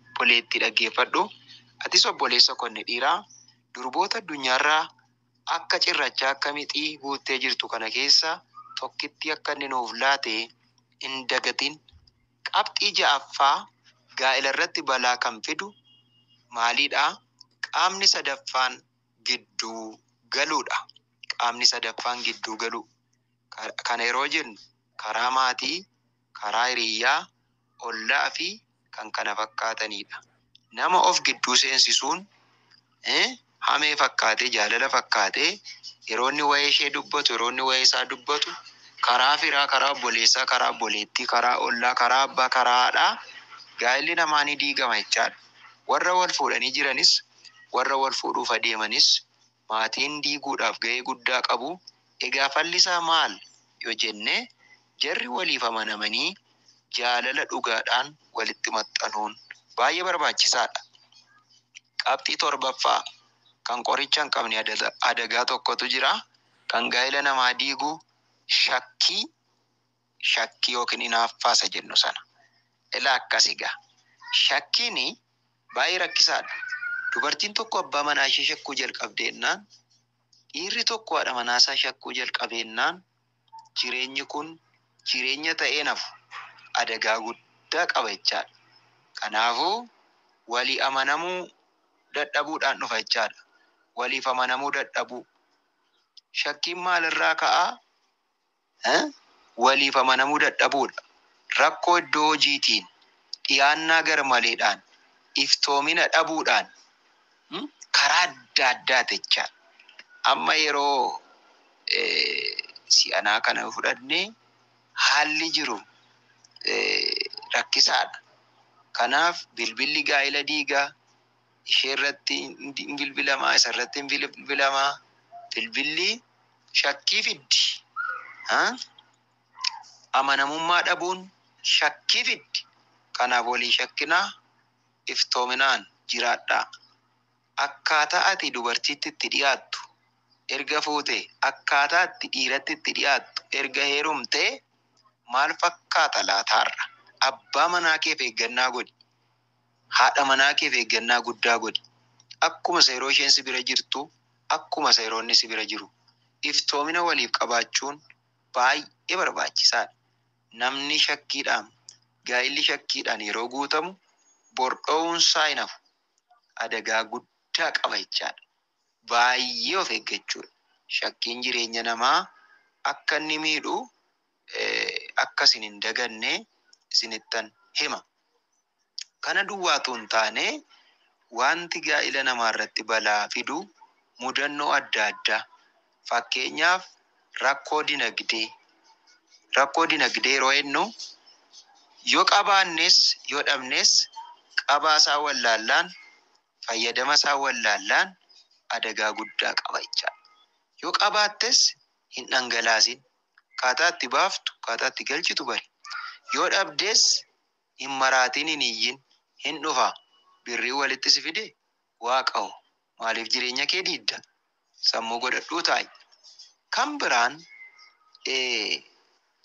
Obboleettii dhaggeeffadhu, atis obboleessa ko inni dhiiraa, durboota addunyaa irraa akka cirrachaa akka mixii guuttee jirtu kana keessaa tokkittii akka inni nuuf laate hin dagatin. Qabxii ja'affaa, gaa'ela irratti balaa kan fidu maalii dha? Qaamni sadaffaan gidduu galuu dha. Qaamni sadaffaan gidduu galuu. Kana yeroo jennu karaa maatii, karaa hiriyyaa, ollaa fi kkf-dha. Nama of gidduu seensisuun hamee fakkaatee, jaalala fakkaatee yeroo inni wa'ee ishee dubbatu, yeroo inni wa'ee isaa dubbatu karaa firaa, karaa obboleessaa, karaa obboleettii, karaa ollaa, karaa abbaa, karaa haadhaa gaa'illi namaa ni diigama jechaadha. Warra wal fuudhanii jiranis, warra wal fuudhuuf adeemanis maatiin diiguudhaaf gahee guddaa qabu egaa fallisaa maal yo jenne jarri waliif amanamanii jaalala dhugaadhaan walitti maxxanuun baay'ee barbaachisaadha Qabxii 7ffaa Kan qoricha hin qabne adagaa tokkotu jira kan gaa'ila namaa diigu shakkii shakkii yookiin inaaffaa isa jennu sana. Ilaa akkas egaa. Shakkiin baay'ee rakkisaadha. Dubartiin tokko abbaa manaa ishee shakkuu jalqabde jennaan, dhiirri tokko haadha manaa isaa shakkuu jalqabe jennaan jireenyi kun jireenya ta'ee hin hafu. Adagaa guddaa qaba jechaadha. Kanaafuu walii amanamuu dadhabuudhaan dhufa jechaadha. Waliif amanamuu dadhabuu. Shakkiin maalirraa ka'a? waliif amanamuu dadhabuudha. Rakkoo iddoo hojiitiin, dhiyaannaa garmaleedhaan, iftoomina dhabuudhaan karaa adda addaa techa. Amma yeroo si'anaa kana yoo fudhanne haalli jiru rakkisaadha. Kanaaf bilbilli gaa'ila diiga. isheerratti hin bilbilama, isarratti hin bilbilama. Bilbilli shakkii fiddi. Amanamummaa dhabuun shakkii fiddi. Kanaaf wal hin shakkinaa, iftoominaan jiraadhaa. Akkaataa ati dubartiitti itti dhiyaattu erga fuutee, akkaataa ati dhiiratti itti dhiyaattu erga heerumtee maal fakkaata laata har'a? Abbaa manaa keef eeggannaa godhi. Haadha manaa keef eeggannaa guddaa godhi. Akkuma isa yeroo isheen si bira jirtu, akkuma isa yeroo inni si bira jiru. Iftoomina waliif qabaachuun baay'ee barbaachisaadha. Namni shakkiidhaan, gaa'illi shakkiidhaan yeroo guutamu, bor dho'uunsaa hin hafu. Adagaa guddaa qaba jechaadha. Baay'ee of eeggachuudha. Shakkiin jireenya namaa akka inni miidhu akka isin hin daganne isinittan hima. Kana duwwaa utuu hin taane, wanti gaa'ila namaarratti balaa fidu mudannoo adda addaa, fakkeenyaaf rakkoo dinagdee, rakkoo dinagdee yeroo jennu yoo qabaannes yoo dhabnes qabaasaa wallaallaan, fayyadamasaa wallaallaan adagaa guddaa qaba jechaadha. Yoo qabaattes hin dhangalaasin, Akkaataa itti baaftu, akkaataa itti galchitu bari. Yoo dhabdes hin maraatiin hin iyyin. Hin dhufa. Birriin walitti si fide? Waaqa hoo? Maaliif jireenya kee diidda? Sammuu godhadhuu taa'i. Kan biraan ee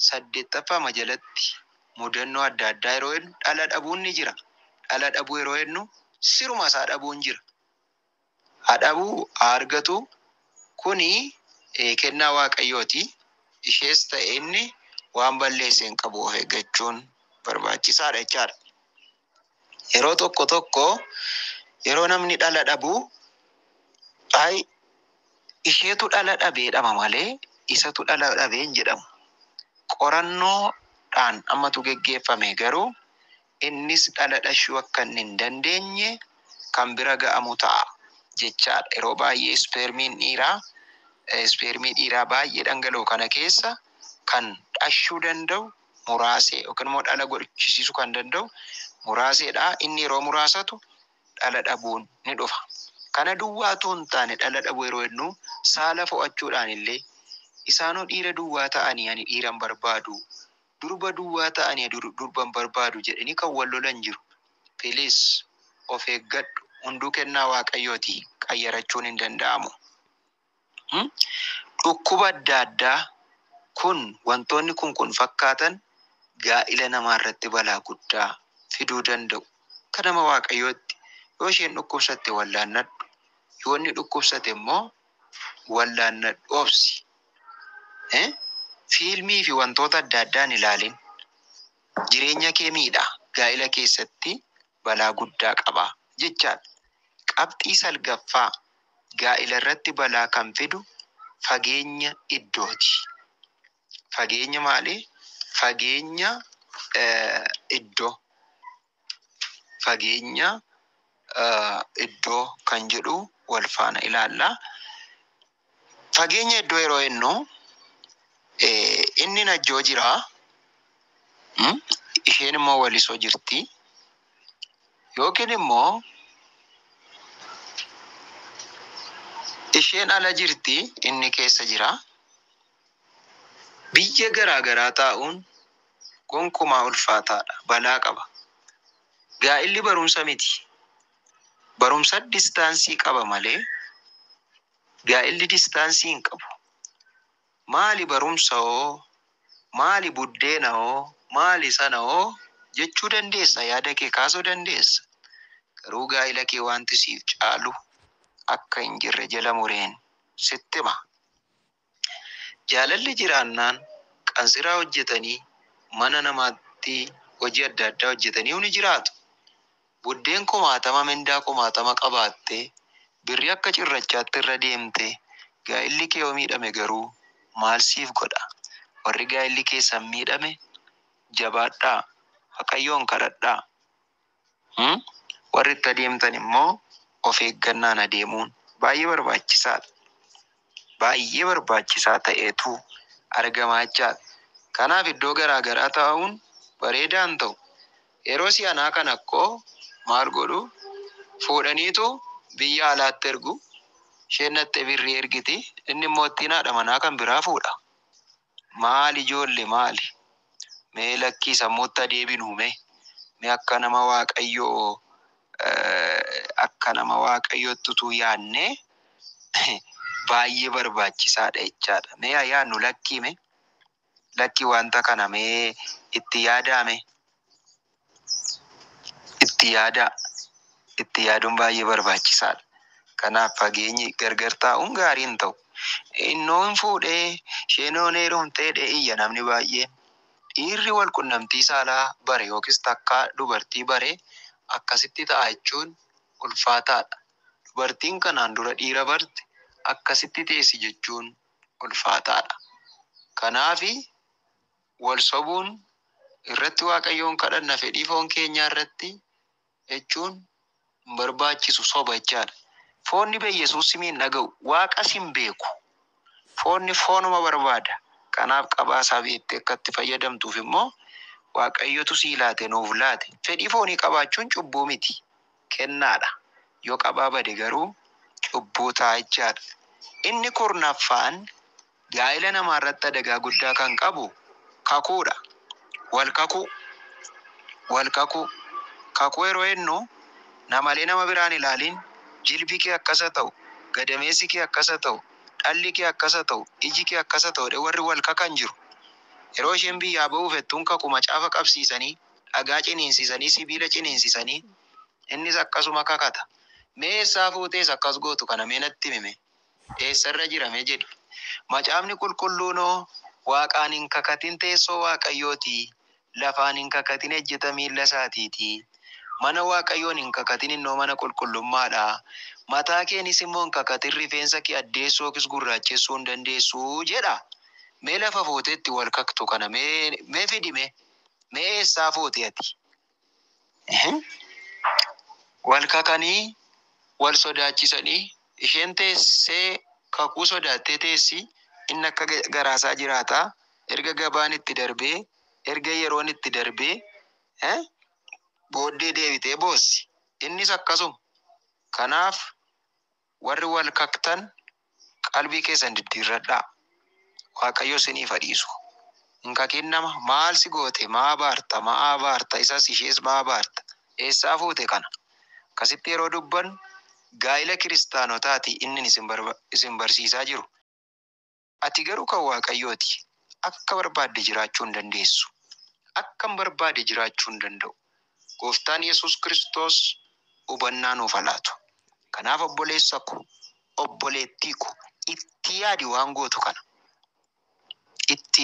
saddeettaffaama jalatti mudannoo adda addaa yeroo jennu dhala dhabuun ni jira. Dhala dhabuu yeroo jennu siruma isaa dhabuun jira. Haa dhabu haa argatu, kuni kennaa Waaqayyooti. Ishees ta'e inni waan balleesse hin qabu, of eeggachuun barbaachisaadha jechaadha. Yeroo tokko tokko yeroo namni dhala dhabu, ay isheetu dhala dhabe jedhama malee isatu dhala dhabe hin jedhamu. Qorannoodhaan ammatu geggeeffame garuu innis dhala dhashuu akka inni hin dandeenye kan bira ga'amu ta'a jechaa dha. Yeroo baay'ee ispeermiin dhiiraa ispeermii dhiiraa baay'ee dhangala'u kana keessa kan dhashuu danda'u muraasee yookiin immoo dhala godhchisiisuu kan danda'u muraasee dha. Inni yeroo muraasatu dhala dhabuun ni dhufa. Kana duwwaa utuu hin taane dhala dhabuu yeroo jennuu saala fo'achuudhaan illee isaanuu dhiira duwwaa ta'anii ani dhiira hin barbaadu Durba duwwaa ta'ani durban barbaadu jedhani kan wal lolan jiru. Please of eeggadhu hunduu kennaa waaqayyooti qayyarachuun hin danda'amu. Hum Dhukkuba adda addaa kun wantoonni kun kun fakkaatan gaa'ila namaa irratti balaa guddaa fiduu danda'u. Akka nama waaqayyootti yoo isheen dhukkubsatte wallaannadhu. Yoo inni dhukkubsate immoo wallaannadhu obsi. Ee fiilmii fi wantoota adda addaa hin ilaalin jireenya kee miidha gaa'ila keessatti balaa guddaa qaba jechaadha. Qabxii salgaffaa gaa'ila irratti balaa kan fidu fageenya iddooti. Fageenya maalii? Fageenya iddoo fageenya iddoo kan jedhu wal faana ilaalla. Fageenya iddoo yeroo ennu inni Najjoo jira, isheen immoo Waliso jirti. Yookiin immoo isheen ala jirti, inni keessa jira. Biyya garaa garaa taa'uun gonkumaa ulfaataa dha, balaa qaba. Gaa'illi barumsa miti. Barumsad distaansii qaba malee gaa'illi distaansii hin qabu. Maali barumsa hoo? Maali buddeena hoo? Maali sana hoo? jechuu dandeessa, yaada kee kaasuu dandeessa. Garuu gaa'ila kee wanti siif caalu akka hin jirre jala mureen sitti hima. Jaalalli jiraannaan qansiraa hojjetanii mana namaatti hojii adda addaa hojjetanii ni jiraatu. Buddeen kumaatama mindaa kumaatama qabaattee birrii akka cirrachaatti irra deemte gaa'illi kee yoo miidhame garuu maal siif godha? Warri gaa'illi keessan miidhame jabaadhaa, Waaqayyoon kadhadhaa. Hum warri itti adeemtan immoo of eeggannaan adeemuun baay'ee barbaachisaadha. Baay'ee barbaachisaa ta'eetu argama jechaadha. Kanaaf iddoo garaa garaa taa'uun bareedaa hin ta'u. Yeroo si'anaa kana akkoo maal godhu fuudhaniitu biyya alaatti ergu. Isheen dhaqxee birrii ergiti inni immoo ittiin haadha manaa kan biraa fuudha. Maali ijoolle maali? Mee lakkii sammuutti haa deebinuu mee. Mee akka nama waaqayyoo akka nama waaqayyootti utuu yaannee baay'ee barbaachisaadha jechaadha. Mee haa yaannu lakkii mee. Lakkii wanta kana mee itti yaadaa mee. Itti yaadaa. Itti yaaduun baay'ee barbaachisaadha. Kanaaf fageenyi gargar taa'uun gaarii hin ta'u. Innoo hin fuudhee, isheenoo hin heerumtee jedhee iyya namni baay'een. Dhiirri wal qunnamtii saalaa bare yookiis takkaa dubartii bare akkasitti ta'a jechuun ulfaataadha. Dubartiin kanaan dura dhiira barte akkasitti teessi jechuun ulfaataadha. Kanaafi Wal sobuun, irratti Waaqayyoon kadhanna fedhii foon keenyaa irratti jechuun hin barbaachisu, soba jechaa dha. Foonni bee Yesuus simi hin dhaga'u, Waaqas hin beeku. Foonni foonuma barbaada. Kanaaf qabaa isaa beektee akka itti fayyadamtuuf immoo Waaqayyotu sii laate, nuuf laate. Fedhii foonii qabaachuun cubbuu miti, kennaa dha. Yoo qabaa bade garuu cubbuu ta'a jechaa dha. Inni kurnaffaan Gaa'ila namaa irratti adagaa guddaa kan qabu kakuu dha. Wal kakuu Wal kakuu Kakuu yeroo ennu namalee nama biraa hin ilaaliin jilbi kee akkas ha ta'u, gadameessi kee akkas ha ta'u, dhalli kee akkas ha ta'u, iji kee akkas ha ta'u jedhee warri wal kakan jiru. Yeroo isheen biyyaa ba'uu fettuun kaku macaafa qabsiisanii, dhagaa ciniinsisanii, sibiila ciniinsisanii innis akkasuma kakata. Mee eessaa fuutees akkas gootu kana mee natti himi mee? eessa irra jira mee jedhi. Macaafni Qulqulluunoo, Waaqaan hin kakatin teessoo Waaqayyooti, lafaan hin kakatin ejjeta miilla isaatiiti. Mana Waaqayyoon hin kakatin innoo mana qulqullummaa dha. Mataa keenis immoo hin kakatin rifeensa kee addeessuu yookiis gurraachessuu hin dandeessu jedha. Mee lafa fuutee itti wal kaktu kana mee fidi mee. Mee eessaa fuute ati? hin wal kakanii wal sodaachisanii isheen teessee kakuu sodaattee teessi inni akka garaasaa jiraataa erga gabaan itti darbee erga yeroon itti darbee booddee deebitee boossi innis akkasuma kanaaf Warri wal kaktan qalbii keessan diddiirradhaa. Waaqayyo siniif ha dhiisu. Hin kakin nama maal si goote maa abaarta maa abaarta isas ishees maa abaarta eessaa fuute kana akkasitti yeroo dubbannu gaa'ila kiristaanotaati innin isin isin barsiisaa jiru. Ati garuu kan Waaqayyoo ti, akka barbaadde jiraachuu hin dandeessu. Akkan barbaade jiraachuu hin danda'u. Gooftaan Yesuus Kiristoos hubannaa nuuf haa laatu. Kanaaf obboleessa ko, obboleettii ko, itti yaadi waan gootu kana. Itti.